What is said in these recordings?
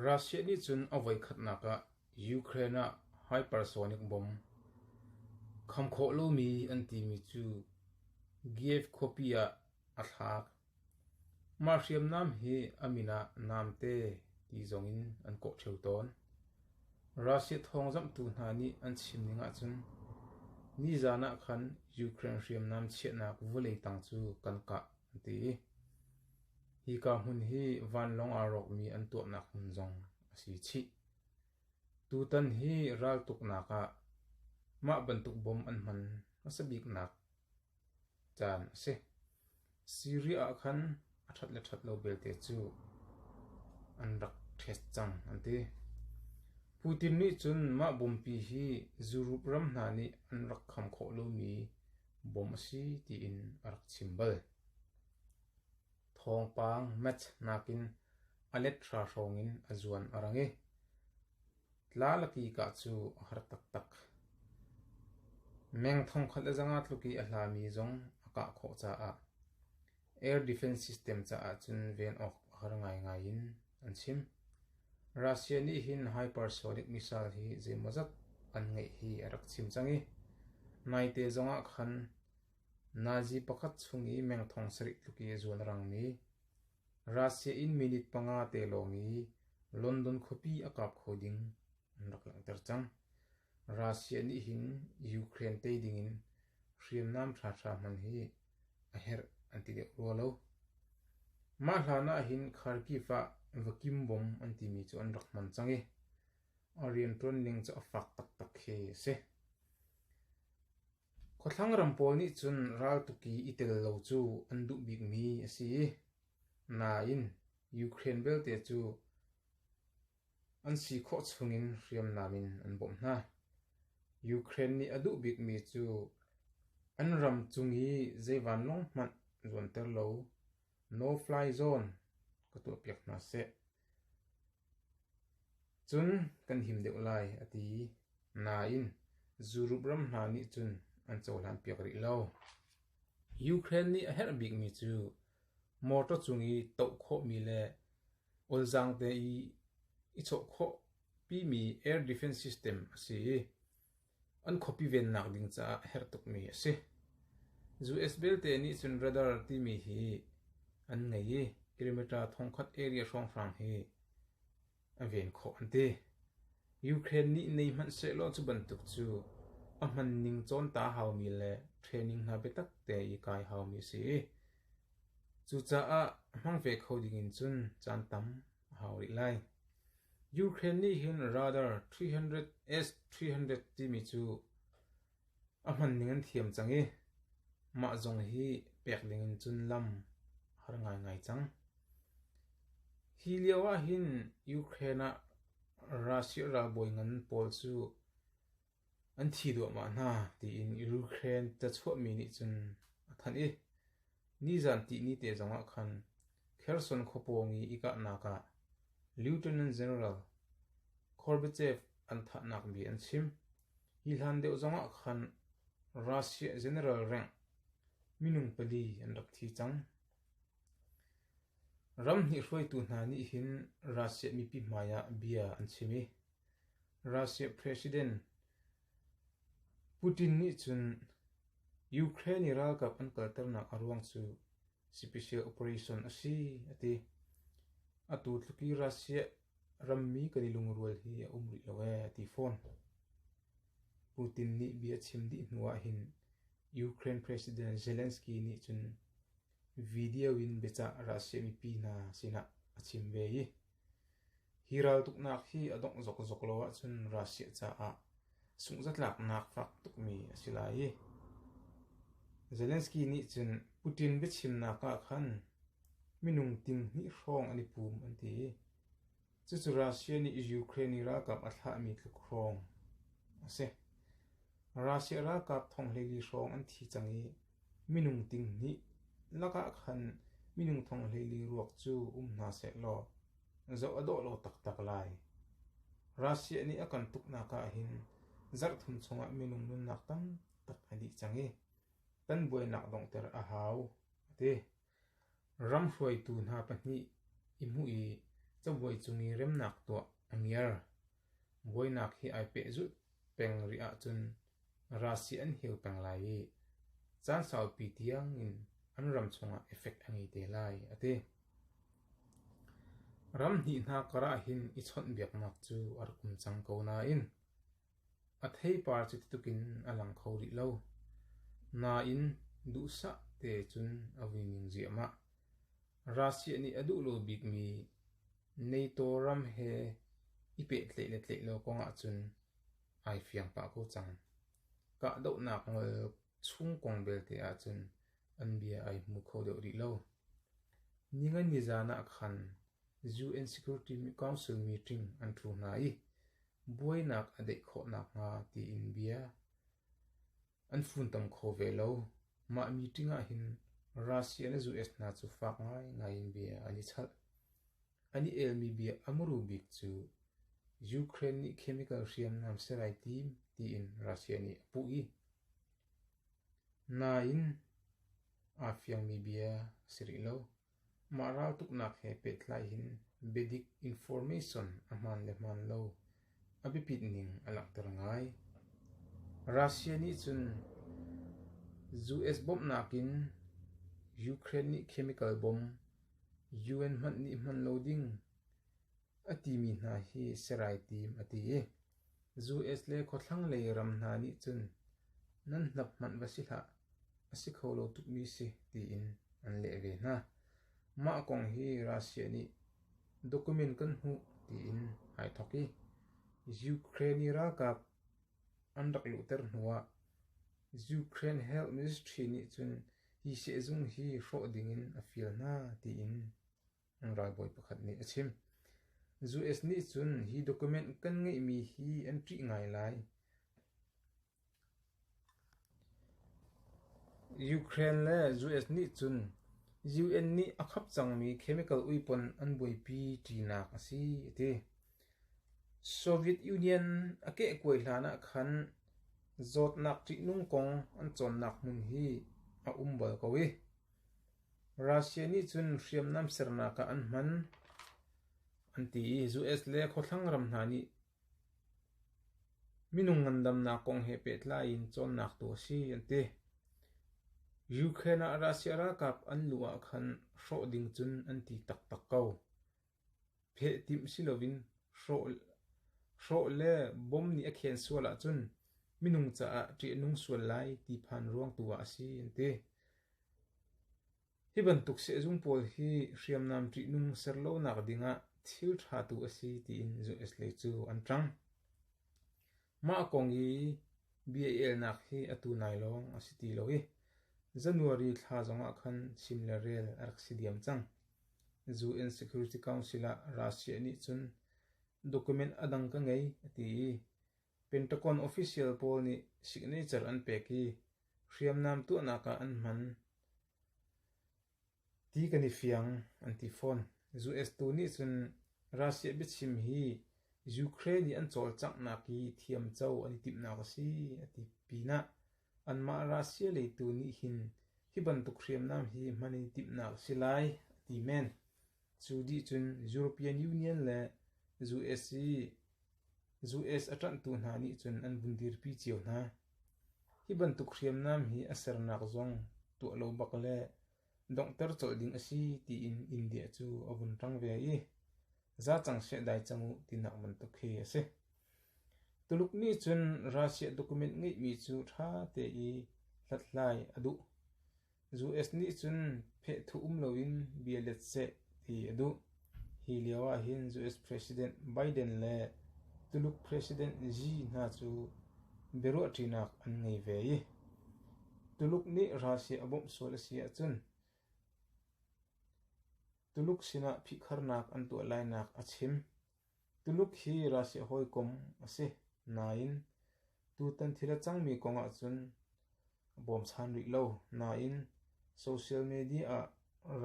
Russia nih cun a voikhatnak ah Ukraine ah hypersonic bomb kham khawh lomi an timi cu Kyiv khuapi ah a thlak. Mah hriamnam hi a min ah namte ti zong in an kawh ṭheu tawn. Russia thawngzamhtu hna nih an chimning ahcun nizan ah khan Ukraine hriamnam chiahnak vawlei tang cu kan kah an ti i Hika hmun hi vanlawng aa rawkmi an tuahnak hmun zong a si chih. Tutan hi raltuknak ah mah bantuk bom an hman hmasa biknak caan a si. Syria ah khan a ṭhat le ṭhat lo belte cu an rak ṭhest cang an ti. Putin nih cun mah bompi hi Zurup ram hna nih an rak kham khawh lomi bom a si tiin a rak chim bal. Thawngpang match nakin a let hrahhrong in a zuan a rang i tlalakika cu a har taktak. Meng thongkhat le zanga tluk i a hlami zong a kah khawh caah air defense system caah cun ven awk a har ngaingai in an chim. Russia nih hin hypersonic missile hi zeimawzat an ngeih hi a rak chim cang i naite zongah khan Nazi pakhat chung i mengthong sarih tluk i a zuan rangmi, Russia in minute panga te lawng i London khuapi a kap kho ding an rak langhter cang. Russia nih hin Ukraine tei dingin hriamnam ṭhaṭha hman hi a herh an ti deuh rua lo. Mah hlan ahhin Kharkiv ah vakim bom an timi cu an rak hman cang i a rianṭuan ning cu a fak taktak khi a si. Khuathlang ram pawl nih cun raltuk i i tel lo cu an duh bikmi a si, nain Ukraine belte cu an si khawh chungin hriamnam in an bawmh hna. Ukraine nih a duh bikmi cu an ram cung i zei vanlawng hmanh luanter law no-fly zone ka tuahpiak hna seh. Cun kan him deuh lai, a ti. Nain, zurup ram hna nih cun an cohlanpiak rih lo. Ukraine nih a herh bikmi cu motor cung i toh khawhmi le olzaang te i i chawh khawhpimi air defense system a si. An khuapi vennak ding caah a herh tukmi a si. US belte nih cun radar timi hi an ngei i Perimeter thongkhat area hrawnghrang hi a ven khawh an ti. Ukraine nih nei hmanh sehlaw cu bantuk cu a hmanning cawnta haumi le training hna biatak te i kai haumi a si i cucaah hmang ve kho ding in cun caan tam a hau rih lai. Ukraine nih hin radar 300S300 timi cu a hman ning an thiam cang i mah zong hi pek ding in cun lam har ngaingai cang. Hi lio ah hin Ukraine ah Russia ralbawi ngan pawl cu An thi duahmah hna tiin Ukraine ca chuahmi nih cun a thanh i nizan tihni te zongah khan Kherson khua pawng i i kahnak ah Lieutenant General Gorbachev an thahnak bia an chim. Hi hlan deuh zongah khan Russia general rank minung pali an rak thi cang. Ram hnih hruaitu hna nih hin Russia mipi hmaiah bia an chim i Russia President Putin nih cun Ukraine i ralkap an kalternak a ruang cu special operation a si a ti. Atu tluk i Russia rammi kan i lungrual hi a um rih lo ee a ti fawn. Putin nih bia a chim dih hnu ahhin Ukraine President Zelensky nih cun video in biacah Russia mipi hna sinah a chim ve i Hi raltuknak hi a dongh zokzok lo ahcun Russia caah sunghzatlaknak fak tukmi a si lai i, Zelensky nih cun Putin biachimnak ah khan minung tinghnih hrawng an i pum an ti i, cucu Russia nih Ukraine i ralkap a thlahmi tluk hrawng a si. Russia ralkap thonghleli hrawng an thi cang i, Minung tinghnih lakah khan minung thonghlei ruak cu um hna seh law zoh a dawh lo taktak lai. Russia nih a kan tuknak ah hin zarhthum chungah minung nunnak tamtak a dih cang i kan buainak donghter a hau, a ti. Ram hruaitu hna pahnih i hmuh i cabuai cung i remnak tuah a ngiar. Buainak he ai pehzulh peng rih ahcun ralsih an hel peng lai i caan saupi tiang in an ram chungah effect a ngei te lai, a ti. Ram hnih hna karah hin i chawnhbiaknak cu a rak um cang ko nain A theipar cutituk in a lang kho rih lo, nain duhsah te cun a vui ning ziahmah. Russia nih a duh lo bikmi NATO ram he i pehtlaih le tlaih lo kong ahcun ai fiang pah ko cang. Kahdohnak ngol chung kong belte ahcun an bia ai hmu kho deuh rih lo. Ningani zan ah khan UN Security Council meeting an thu hna i Buainak a deih khawh nakhnga tiin bia an funtom kho ve lo. Mah meeting ah hin Russia le US hna cu fak ngaingai in bia an i chalh. An i elmi bia a muru bik cu Ukraine nih chemical hriamnam ser ai tim tiin Russia nih a puh i nain aa fiangmi bia si rih lo. Mah raltuknak he pehtlai hin biadik information a hmaan le hmaan lo a biapit ning a langhter ngai. Russia nih cun US bawmhnak in Ukraine nih chemical bom UN hmanh nih hman lo ding a timi hna hi serai tim a ti i, US le khuathlanglei ram hna nih cun nan hnap hmanh va si hlah, a si kho lo tukmi si tiin an leh ve hna. Mah kong hi Russia nih document kan hmuh tiin ai thawk i Ukraine i ralkap an rak luhter hnu ah Ukraine Health Ministry nih cun hi sehzung hi hrawh ding in a fial hna tiin ralbawi pakhat nih a chim. US nih cun hi document kan ngeihmi hi an ṭih ngai lai. Ukraine le US nih cun UN nih a khap cangmi chemical uipon an buaipi ṭinak a si a ti. Soviet Union a kehkuai hlan ah khan zawtnak ṭihnung kong an cawnnak hmun hi a um bal ko i Russia nih cun hriamnam sernak ah an hman, an ti i US le khuathlang ram hna nih minung ngandamnak kong he pehtlai in cawnnak tu a si an ti. Ukraine ah Russia ralkap an luh ah khan hrawh ding cun an ti taktak ko. Phehtimh si loin hrawh le bom nih a khen sual ahcun minung caah ṭih a nung sual lai ti phan ruang tu ah a si an ti. Hi bantuk sehzung pawl hi hriamnam ṭihnung ser lonak ding ah thil ṭha tu a si tiin US lei cu an ṭang. Mah kong hi bia elnak hi atu nai lawng a si ti lo i January thla zongah khan chim le rel a rak si diam cang. UN Security Council ah Russia nih cun document a dang ka ngei a ti i Pentagon official pawl nih signature an pek i hriamnam tuahnak ah an hman. Ti kan i fiang, an ti fawn. US tu nih cun Russia biachim hi Ukraine i an cawlcanghnak hi thiamco an i timhnak a si, a ti pinah anmah Russia lei tu nih hin hi bantuk hriamnam hi hman i timhnak a si lai, a ti men. Cu dih cun European Union le US a ṭanhtu hna nih cun an vun dirpi cio hna. Hi bantuk hriamnam hi a sernak zong tuah lo bak le donghter colh ding a si tiin India cu a vun ṭang ve i, za cang seh dai cang u tinak bantuk khi a si. Tuluk nih cun Russia document ngeihmi cu ṭha te i hlathlai a duh. US nih cun phehthu um loin bia let seh ti a duh. Hi lio ahhin US President Biden le Tuluk President Xi hna cu biaruahṭinak an ngei ve i Tuluk nih Russia a bawmh sual a si ahcun Tuluk sinah phihkharnak an tuah lainak a chim. Tuluk hi Russia hawikom a si nain tutan thil a cangmi kong ahcun a bawmchan rih lo nain social media ah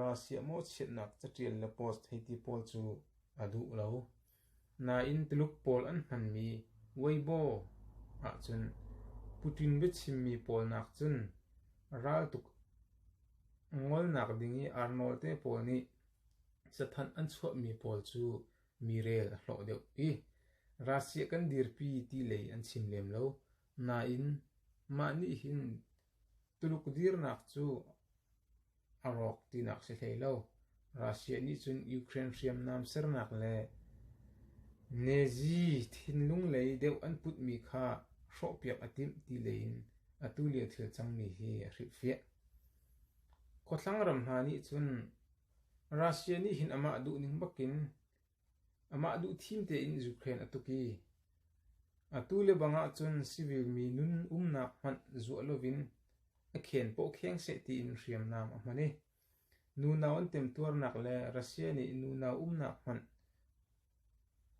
Russia mawhchiatnak catial le post hei ti pawl cu a duh lo. Nain Tuluk pawl an hmanmi Weibo ahcun Putin biachimmi pawl nakcun raltuk ngolnak ding i ar nawlte pawl nih Cathanh an chuahmi pawl cu mirel a hlawh deuh i Russia kan dirpi ti lei an chim lem lo, nain mah nih hin Tuluk dirnak cu a rawk tinak si hlei lo. Russia nih cun Ukraine hriamnam sernak le Nazi thinlung lei deuh an putmi kha hrawhpiak a timh ti lei in atu lio thil cangmi hi a hrilhfiah. Khuathlang ram hna nih cun Russia nih hin amah duhning bakin amah duhthim tein Ukraine a tuk i atu lebang ahcun civil mi nun umnak hmanh zuah lovin a khen paw kheng seh tiin hriamnam a hman i nunau an temtuarnak le Russia nih nunau umnak hmanh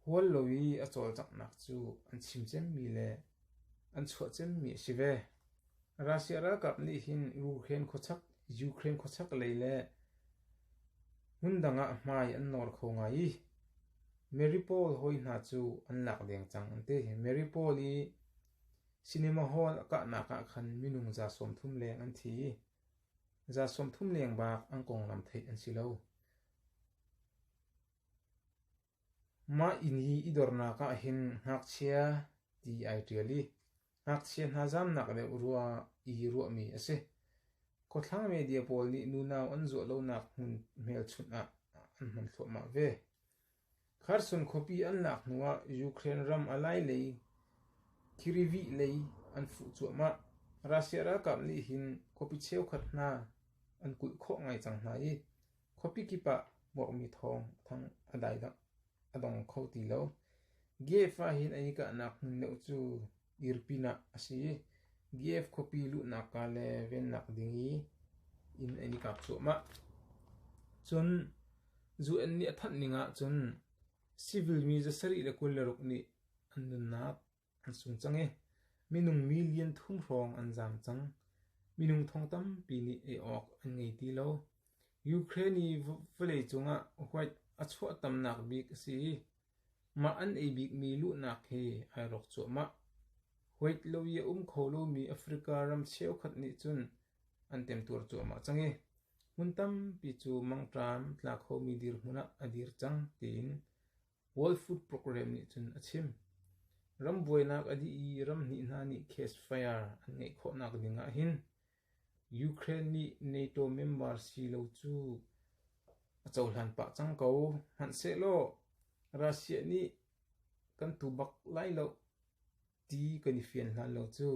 Hual lo i a cawlcanghnak cu an chim cemmi le an chuah cemmi a si ve. Russia ralkap nih hin Ukraine khuachak, Ukraine khuachak lei le hmundang ah hmai an nawr kho ngai i Mariupol hawi hna cu an lak deng cang an ti. Mariupol i cinema hall a kahnak ah khan minung za sawm thum leng an thi i za sawm thum leng bak an konglam theih an si lo. Mah inn hi i dornak ah hin ngakchia ti ai ṭial i ngakchia hna zamnak deuh ruah i ruahmi a si. Khuathlang media pawl nih nunau an zuah lonak hmun hmelchunh ah an hman thluahmah ve. Kherson khuapi an lak hnu ah Ukraine ram a lai lei Kirivih lei an fuh cuahmah. Russia ralkap nih hin khuapi cheukhat hna an kulh khawh ngai cang hna i Khuapi kip ah muakmi thawng a thang a dong kho ti lo. Giev ahhin an i kahnak hmun deuh cu dir pinah a si i Giev khuapi luhnak kaa le vennak ding i inn an i kap cuahmah. Cun zu an nih a thanh ning ahcun civil mi za sarih le kul le ruk nih an nunnak an sung cang i minung mi lian thum hrawng an zaam cang. Minung thong tampi nih ei awk an ngei ti lo. Ukraine i vawleicung ah huat a chuahtamnak bik a si i mah an ei bikmi luhnak hi ai rawk cuahmah. Huat lo i a um kho lomi Africa ram cheukhat nih cun an temtuar cuahmah cang i hmun tampi cu mangṭam tla khomi dirhmun ah a dir cang tiin World Food Program nih cun a chim. Ram buainak a dih i ram hnih hna nih case fire an ngeih khawhnak ding ah hin Ukraine nih NATO member si lo cu a cohlan pah cang ko. Hmanhsehlaw Russia nih kan tu bak lai lo ti kan i fian hlan lo cu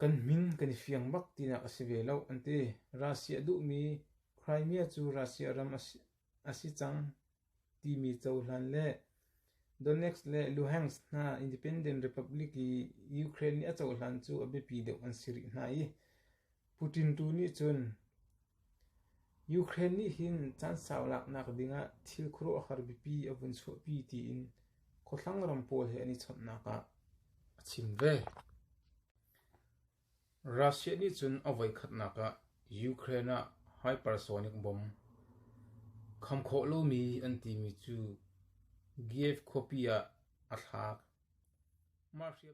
kan min kan i fiang bak tinak a si ve lo an ti. Russia duhmi Crimea cu Russia ram a si A si cang timi cohlan le Donetsk le Luhansk hna Independent Republic i Ukraine nih a cohlan cu a biapi deuh an si rih hna i Putin tu nih cun Ukraine nih hin caan sau laknak dingah thil khuaruahhar biapi a vun chuahpi tiin khuathlang ram pawl he an i chawnhnak ah a chim ve. Russia nih cun a voikhatnak ah Ukraine ah hypersonic bom kham khawh lomi an timi cu Kyiv khuapi ah a thlak.